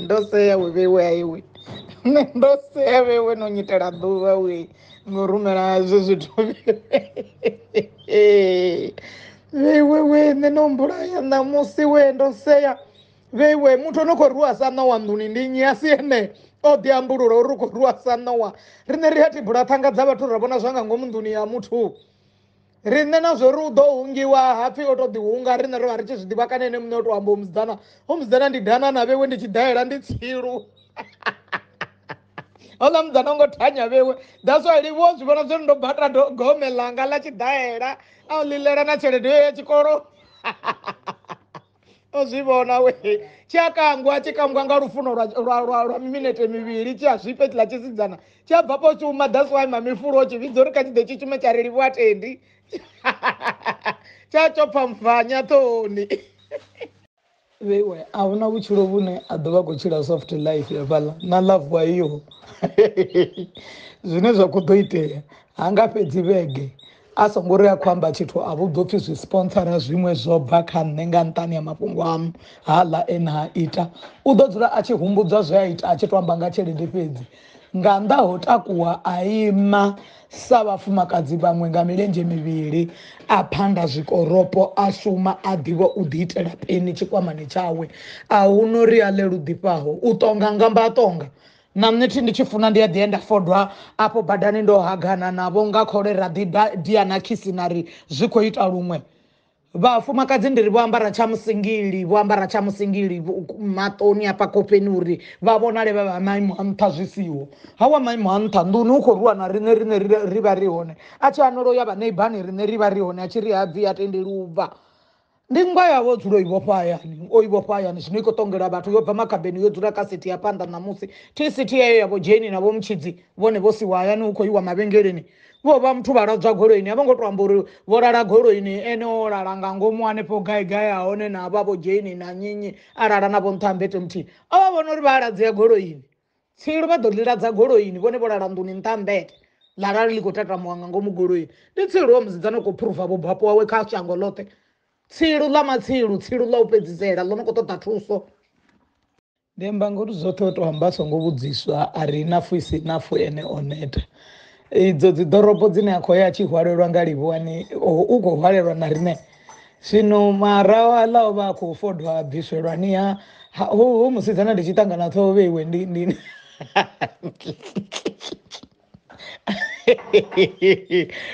ndo sea we vhewe aiwe nṋe ndo sea vhewe no nyitela ḓuvha we ngo rumela zwe zwithu vhewe we nṋe no mbulaya ṋamusi we ndo sea vheiwe muthu ono khou rwiwa sa ṋowa nḓuni ndi nnyi a si ene o ḓi ambulula uri u khou rwiwa sa ṋowa riṋe ri a tibula ṱhanga dza vhathu ra vhona zwa nga ngomu nḓuni ya muthu riṋe na zwori u ḓo hungiwa hapfi o to ḓi hunga riṋe ro vha ri tshi zwi ḓivha kana ene muṋe o to amba umusidzana umusidzana ndi dana na vhewe ndi tshi daela ndi tsilu houḽa mudzana ngo thanya vhewe that's why livho zwi vhona zwori ndo bata gome ḽanga ḽa tshidaela a u ḽilela na tshelede yo ya tshikolo o zwi vhona we tshi a kangwa tshi kangwa nga lufuno lwa- lwa lwa- lwa miminete mivhili tshi a zwifhe tshiḽa tshisidzana tshi a bva po shuma that's why mamifulo o tshi vhidza uri kha tshi ḓe tshi shume tsha ri livhuwa tendi tsha tsho pfamfanya ṱoni vheiwe a huna vhutshilo vhune a ḓo vha a khou tshila soft life hafhaḽa na love wa iyo zwine zwa khou ḓo itea ha nga fhedzi vhege A songo ri a khou amba tshithu a vhudzwa upfi zwi sponsora zwiṅwe zwo bva kha nṋe nga nṱhani ha mafhungo amu haaḽa e na a ita. U ḓo dzula a tshi humbudzwa zwe a ita a tshi tou amba nga tshelede fhedzi. Nga nnḓa ho takuwa a ima sa vhafumakadzi vhaṅwe nga milenzhe mivhili, a phanda zwikoropo, a shuma a ḓivha u ḓiitela peni tshikwamani tshawe. A hu na uri a ḽe lu ḓifhaho, u ṱonga nga mba a ṱonga. na nṋe thi ndi tshi funa ndi a ḓi enda fodwa afho badani ndo hagana navho nga khole ra ḓi ba dia na khisi na ri zwi khou ita luṅwe vhafumakadzi ndi ri vho ambara tsha musingili vho ambara tsha musingili maṱoni afha khofheni uri vha vhonale vha vha maimo a nṱha zwi siho ha wa maimo a nṱha nḓuni u khou rwiwa na riṋe riṋe ri vha ri hone a tshi anolo ya vhaneibani riṋe ri vha ri hone a tshi ri ha bvi a tendeli u bva Ndi nngwa ya vho dzulo i vhofha hayani, o i vhofha hayani, zwino i khou ṱongela vhathu, yo bva makhabeni, yo dzula kha sithi ya phanḓa ṋamusi. Thi sithi yeyo ya vho Jane na vho Mtshidzi, vhone vho siwa hayani hu khou iwa mavhengeleni. Vho vha muthu vha ladzwa goloini, a vho ngo tou amba uri vho lala goloini, ene o lala nga ngomu hanefho gai gai ha hone na vha vho Jane na nnyi nnyi, a lala na vho nṱha ha mmbete muthihi. O vha vhona uri vha a ladzea goloini. Tsilu vha ḓo ḽi ladza goloini vhone vho lala nḓuni nṱha ha mmbete ḽa lala ḽi khou tatamuwa nga ngomu goloini. Ndi tsilu wa musidzana u khou phuruva vhubvapo wawe kha shango ḽoṱhe. Tsilu ḽa matsilu, tsilu ḽa u fhedzisela ḽo no khou ṱoḓa thuso. Ndi amba nga uri zwoṱhe o tou amba a songo vhudziswa a ri inafhu i si inafhu ene o neta. idzo dzi ḓorobo dzine a khou ya a tshi hwalelwa nga livhuwani u khou hwalelwa na riṋe zwino maraho aḽa o vha a khou fodwa a bviswelwani ha ho musidzana ndi tshi ṱangana ṱhoho vheiwe ndi ndi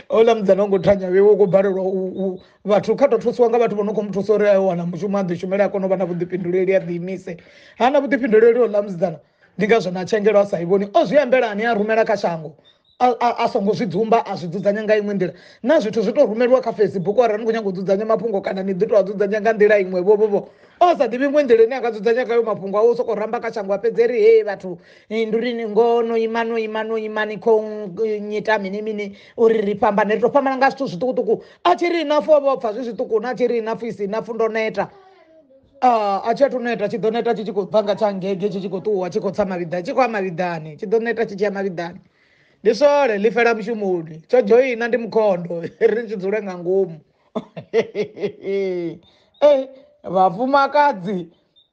ola mudzana u ngo thanya vheiwe u khou balelwa u vhathu kha tou thusiwa nga vhathu vho no khou mu thusa uri a wana mushumo a ḓi shumele a kone u vha na vhuḓifhinduleli a ḓi imise ha na vhuḓifhinduleli ola musidzana ndi ngazwo na tshengelo a sa i vhoni o zwi ambela ane a rumela kha shango a songo zwi dzumba a zwi dzudzanya nga iṅwe nḓila na zwithu zwi tou rumeliwa kha facebook arali ni khou nyanga u dzudzanya mafhungo kana ni ḓi tou a dzudzanya nga nḓila iṅwe vhovhovho o sa ḓivhi iṅwe nḓila ine a nga dzudzanya khayo mafhungo awe u sokou ramba kha shango a fhedze ri hei vhathu ndi uri ni ngo no ima no ima no ima ni khou nyita mini mini uri ri fhambane ri tou fhambana nga zwithu zwiṱukuṱuku a tshi ri ina fo vho pfha zwi zwiṱuku na tshi ri ina fo isi ina fo ndo neta Ah, a tshi athu neta tshi ḓo neta tshi tshi khou bva nga tsha ngege tshi tshi khou ṱuwa tshi khou tsa mavhiḓani tshi khou ya mavhiḓani tshi ḓo neta tshi tshi ya mavhiḓani ndi sole ḽi fela mushumoni tsho dzhoina ndi mukhondo ri tshi dzule nga ngomu ei vhafumakadzi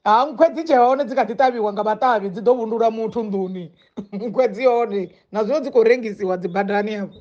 ha nkhwe dzi tshe hone dzi kha ḓi ṱavhiwa nga vhaṱavhi dzi ḓo vhundula muthu nḓuni nkhwe dzi hone na zwino dzi khou rengisiwa dzi badani afho